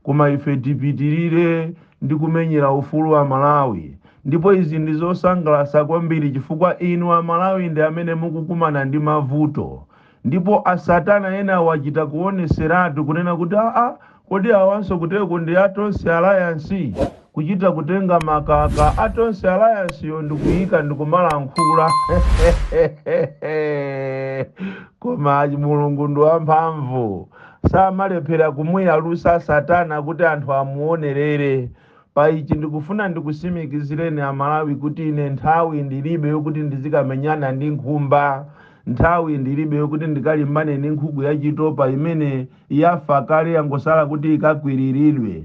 Koma ife tipitirire ndi kumenyera ufulu wa a Malawi ndipo izi ndi zosangalasa kwambiri chifukwa inu a Malawi ndi amene mukukumana ndi mavuto ndipo a satana enawa achita kuoneseratu kunena kuti aa kodi awanso kuteko ndi a Tonse alliance? kuchita kutenga makaka a Tonse Alliance yo ndikuyika ndikumalankhula koma Mulungu ndi wamphamvu samalephera kumuyalusa satana kuti anthu amuonerere pa ichi ndikufuna ndikusimikizireni amalawi kuti ine nthawi ndilibe yokuti ndizikamenyana ndi nkhumba nthawi ndilibe yokuti ndikalimbane ndi nkhuku yachitopa imene yafa kale yangosala kuti ikakwiriridwe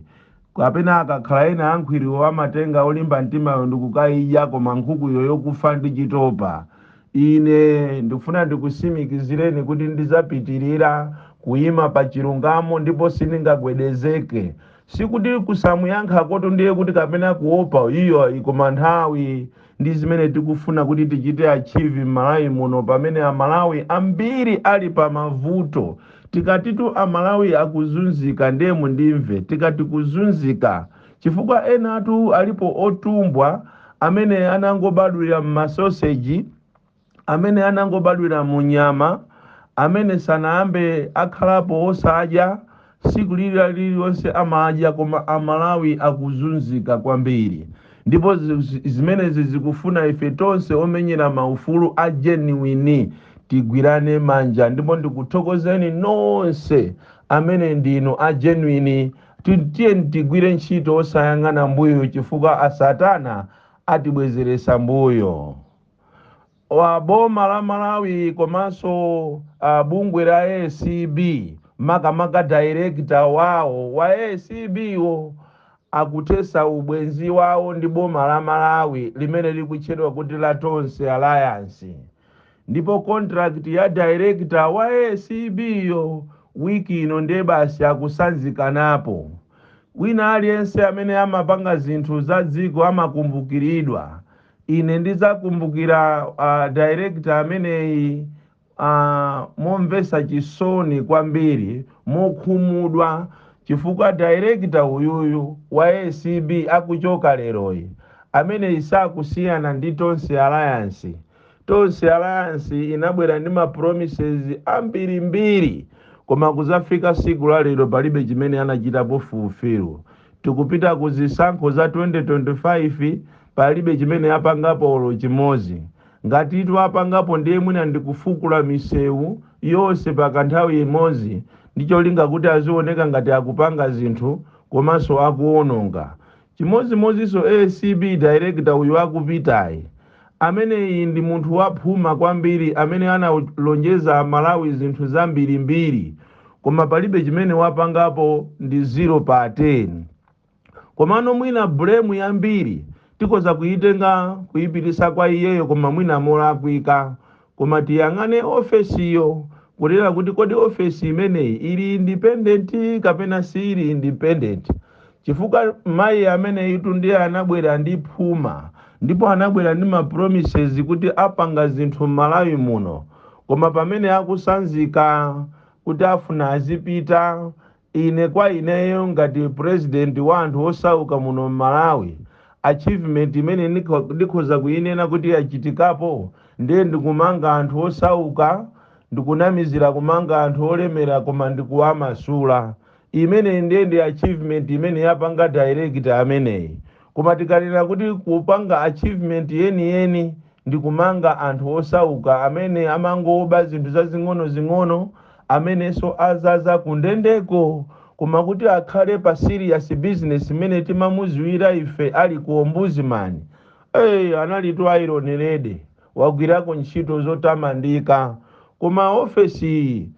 Kapena akakhala ena a nkhwiriwo amatenga olimba mtimayo ndi kukaidya, koma nkhukuyo yokufa ndi chitopa. Ine ndikufuna ndikusimikizireni kuti ndidzapitirira kuyima pa chilungamo ndipo sindingagwedezeke. Sikuti kusamuyankhakotu ndiye kuti kapena kuopa, iyayi, koma nthawi ndi zimene tikufuna kuti tichite achieve m'Malawi muno pamene Amalawi ambiri ali pa mavuto. Tikatitu Amalawi akuzunzika ndiye mundimve, tikati kuzunzika chifukwa enatu alipo otumbwa amene anangobadwira m'masoseji, amene anangobadwira mu nyama, amene sanayambe akhalapo osadya, siku lili lililonse amadya koma amalawi akuzunzika kwambiri ndipo zimenezi zikufuna ife tonse omenyera maufulu a genuine tigwirane manja ndipo ndikuthokozeni nonse amene ndinu a genuine tiyeni tigwire ntchito osayang'ana mbuyo chifukwa asatana atibwezeresa mbuyo boma la Malawi komanso uh, bungwe la ACB makamaka director wawo wa ACB wo akuthesa ubwenzi wawo ndi boma la Malawi limene likutchedwa kuti la Tonse Alliance ndipo contract ya director wa ACB yo wiki ino ndiye basi akusanzikanapo wina aliyense amene amapanga zinthu za dziko amakumbukiridwa ine ndidzakumbukira uh, director ameneyi uh, momvesa chisoni kwambiri mokhumudwa chifukwa director uyuyu wa acb akuchoka leroyi ameneyi sakusiyana ndi tonse alliance tonse alliance inabwera ndi ma promises ambirimbiri koma kuzafika siku la lero palibe chimene anachitapo fulfill tikupita ku zisankho za 2025 Palibe chimene apangapo olo chimozi. Ngatitu apangapo ndiye mwina ndi kufukula misewu yonse pakanthawi imozi ndi cholinga kuti azioneka ngati akupanga zinthu komaso akuononga. Chimozimoziso acb director uyu akupitayi. Ameneyi ndi munthu wa phuma kwambiri amene analonjeza a Malawi zinthu zambirimbiri koma palibe chimene wapangapo ndi zero pa 10. Komano mwina blame yambiri tikhoza kuyitenga kuyipitisa kwa iyeyo koma mwina molakwika. Koma tiyang'ane ofesiyo kunena kuti kodi ofesi imeneyi ili independent kapena siili independent. Chifukwa mayi ameneyitu ndiye anabwera ndi phuma ndipo anabwera ndi ma promises kuti apanga zinthu M'malawi muno koma pamene akusanzika kuti afuna azipita Ine kwa ineyo ngati president wa anthu osauka muno mmalawi achievement imene ndikhoza kuyinena kuti yachitikapo ndiye ndikumanga anthu osauka ndikunamizila kumanga anthu olemela koma ndikuwamasula imeneyi ndiye ndi achievement imene yapanga director ameneyi koma tikanena kuti kupanga achievement yeniyeni ndi kumanga anthu osauka amene amangoba zinthu zazing'onozing'ono amenenso azaza ku ndendeko koma kuti akhale pa serious business mmene timamuziwira ife ali ku ombudsman ee analitu iron lady wagwirako ntchito zotamandika koma ofesi iyi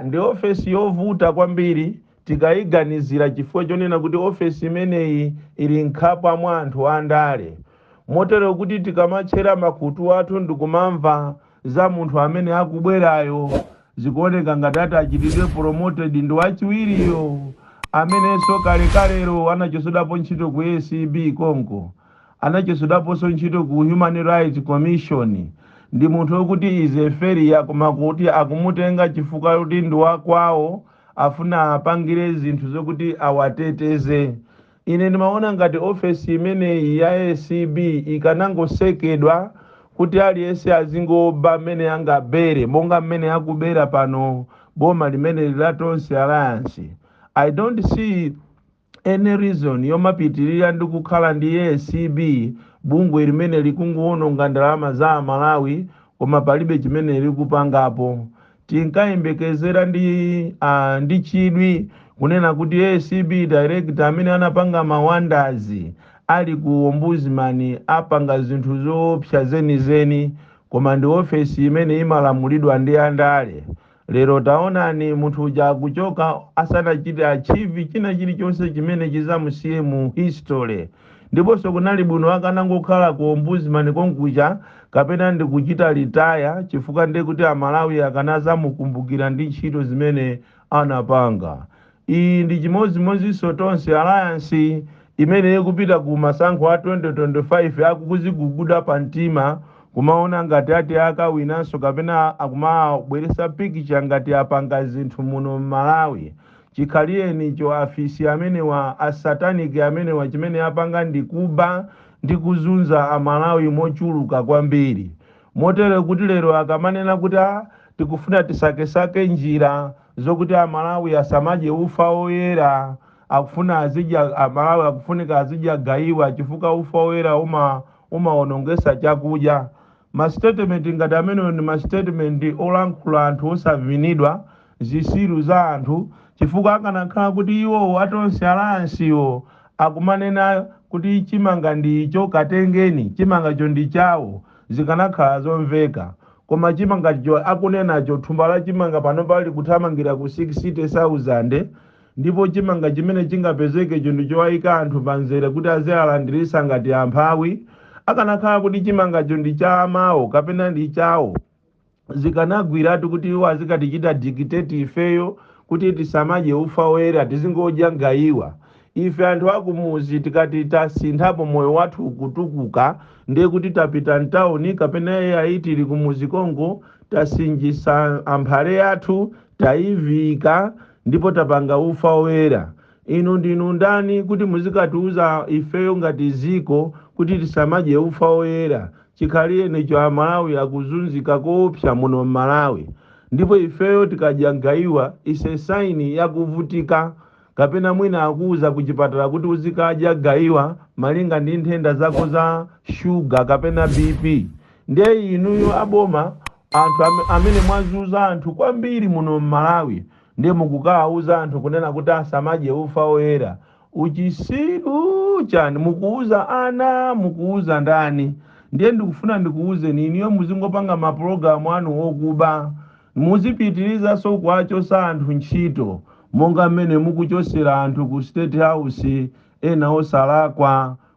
Ndi ofesi yovuta kwambiri tikaiganizira chifukwa chonena kuti ofesi imeneyi ili mkhapwa mwa anthu andale. Motero kuti tikamatchera makutu athu ndikumamva za munthu amene akubwerayo, zikuoneka ngati ati achitidwe promoted ndi wachiwiriyo amenenso kalekalelo anachotsedwapo ntchito ku acb konko. anachotsedwaponso ntchito ku Human Rights Commission ndi munthu okuti is a failure koma kuti akumutenga chifukwa choti ndi wa kwawo afuna apangire zinthu zokuti awateteze. Ine ndimaona ngati ofesi imeneyi ya acb ikanangotsekedwa kuti aliyense azingoba mmene angabere monga mmene akubera pano boma limeneli la Tonse Alliance. I don't see any reason yomapitirira ndi kukhala ndi acb bungwe limene likungowononga ndalama za amalawi koma palibe chimene likupangapo tinkayembekezera ndi ah, ndi chidwi kunena kuti acb director amene anapanga mawandazi ali ku ombudsman apanga zinthu zoopsa zenizeni koma ndi ofesi imene imalamulidwa ndi andale Lero taonani munthu uja akuchoka asanachite achieve china chilichonse chimene chizamusiye mu history. Ndiponso kunali bwino akanangokhala ku Ombudsman konkuja kapena ndi kuchita retire chifukwa ndi kuti a Malawi akanazamukumbukira ndi ntchito zimene anapanga. Iyi ndi chimodzimodzinso Tonse Alliance imene ikupita ku masankho a 2025 akukuziguguda pa mtima kumaona ngati ati akawinanso kapena akumabweretsa picture ngati apanga zinthu muno Mmalawi. Chikhalirecho afisi amenewa, a satanic amenewa chimene apanga ndi kuba ndi kuzunza a Malawi mochuluka kwambiri. Motere kuti lero akamanena kuti aah tikufuna tisakesake njira. Zokuti a Malawi asamadye ufa oyera akufuna azidya a Malawi akufunika azidya gayiwa chifukwa ufa oyera umawonongesa chakudya. Ma statement ngati amenewo ndi ma statement olankhula anthu osavinidwa, zisiru za anthu chifukwa akanakhala kuti iwowo a Tonse Alliance wo akumanena kuti chimanga ndicho katengeni chimangacho ndi chawo zikanakhala zomveka Koma chimangacho akunenacho, thumba la chimanga pano pali kuthamangira ku 60 sauzande, ndipo chimanga chimene chingapezekecho ndi chowaika anthu pa mzere kuti azialandiritsa ngati amphawi. Akanakhala kuti chimangacho ndi cha amawo kapena ndi chawo, zikanagwiratu kuti iwo azikatichita dictate ifeyo kuti tisamadye ufa woyera tizingodya gaiwa. Ife anthu akumudzi tikati tasinthapo moyo wathu ukutukuka ndiye kuti tapita mtauni kapena ai tili kumudzi konko tasinjitsa amphale yathu taiviika ndipo tapanga ufa oyera. Inu ndinu ndani kuti muzikatiuza ifeyo ngati dziko kuti tisamadye ufa oyera chikhalirecho amalawi akuzunzika koopsa muno mmalawi ndipo ifeyo tikadya mgaiwa its a sign yakuvutika. Kapena mwina akuuza kuchipatala kuti uzikadya gaiwa malinga ndi nthenda zako za shuga kapena BP. Nde inuyo a boma anthu amene mwazunza anthu kwambiri muno mmalawi nde mukukawauza anthu kunena kuti asamadye ufa oyera. Uchisiru chani? Mukuuza ana? Mukuuza ndani? Ndiye ndikufuna ndikuuzeni inuyo muzingopanga ma pulogalamu anu okuba Muzipitirizanso kuwachotsa anthu ntchito monga mmene mukuchotsera anthu ku state house ena osalakwa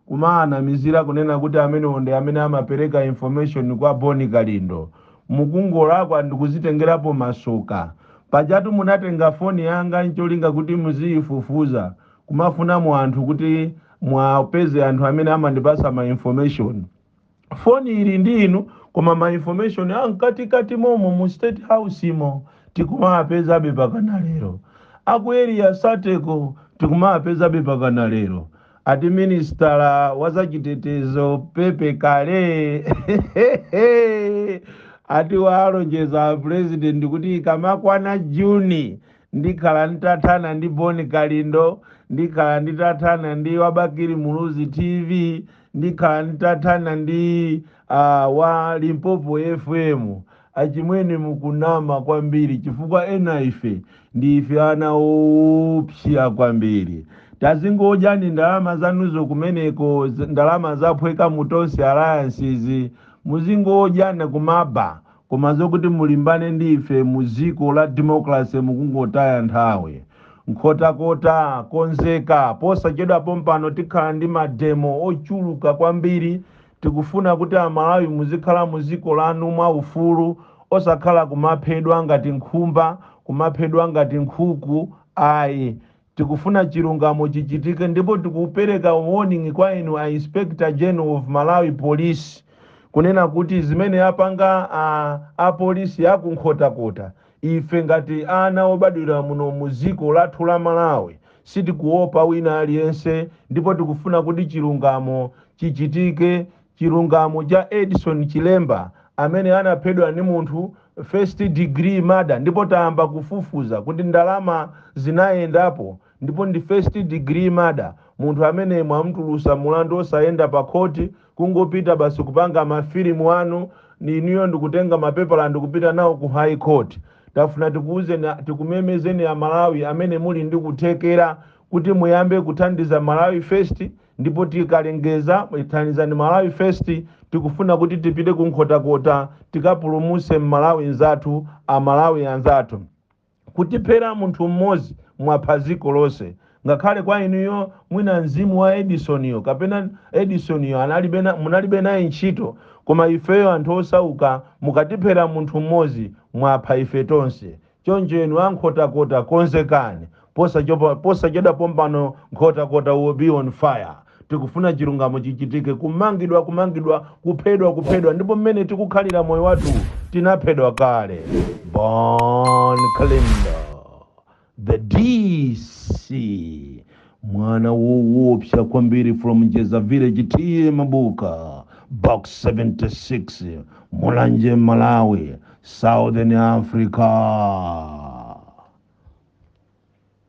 kumawanamizira kunena kuti amenewo ndi amene amapereka information kwa Bon Kalindo. Mukungolakwa ndikuzitengerapo masoka. Pajatu munatenga foni yanga ncholinga kuti muziyifufuza kumafunamo anthu kuti muwapeze anthu amene amandipatsa ma information. foni ili ndi inu koma ma information amkatikati momo mu state house mo tikumawapezabe pakana lero aku area sateko tikumawapezabe pakana lero ati minisitala wa zachitetezo pepe kale ati walonjeza president kuti ikamakwana juni ndikhala nditathana ndi Bon Kalindo ndikhala nditathana ndi wa Bakili Muluzi TV ndikhala nditathana ndi uh, wa Limpopo FM achimwene mukunama kwambiri chifukwa ena ife ndi ife ana oopsya kwambiri tazingodyani ndalama zanuzo kumeneko z- ndalama zaphweka mu Tonse Alliance muzingodyana kumaba Koma zokuti mulimbane ndi ife mu dziko la democracy mukungotaya nthawi. Nkhotakota, konzeka, posachedwa pompano tikhala ndi mademo ochuluka kwambiri, tikufuna kuti amalawi muzikhala mu dziko lanu mwa ufulu osakhala kumaphedwa ngati nkhumba, kumaphedwa ngati nkhuku ayi. Tikufuna chilungamo chichitike ndipo tikupereka warning kwa inu a Inspector General of Malawi Police kunena kuti zimene apanga a apolisi aku Nkhotakota ife ngati ana obadwira muno mu dziko lathu la Malawi sitikuopa wina aliyense ndipo tikufuna kuti chilungamo chichitike Chilungamo cha Edison Chilemba amene anaphedwa ndi munthu first degree murder ndipo tayamba kufufuza kuti ndalama zinayendapo ndipo ndi first degree murder munthu amene mwamutulusa mulandu osayenda pa court kungopita basi kupanga ma film anu inuyo ndikutenga mapepala ndikupita nawo ku high court tafuna tikuuzeni tikumemezeni amalawi amene muli ndi kuthekera kuti muyambe kuthandiza Malawi first Ndipo tikalengeza Thandizani Malawi First tikufuna kuti tipite ku Nkhotakota tikapulumutse m'Malawi nzathu, a Malawi anzathu. Kutiphera munthu m'modzi mwapha dziko lonse. Ngakhale kwa inuyo mwina mzimu wa Edison yo kapena Edison yo analibe munalibe naye ntchito koma ifeyo anthu osauka mukatiphera munthu m'modzi mwapha ife tonse. Choncho inu a Nkhotakota konzekani posachedwa pompano Nkhotakota will be on fire tikufuna chilungamo chichitike kumangidwa kumangidwa kuphedwa kuphedwa ndipo mmene tikukhalira moyo wathu tinaphedwa kale Bon Kalindo the DC mwana wowopsya kwambiri from Njeza village T/A Mabuka box 76 Mulanje Malawi southern africa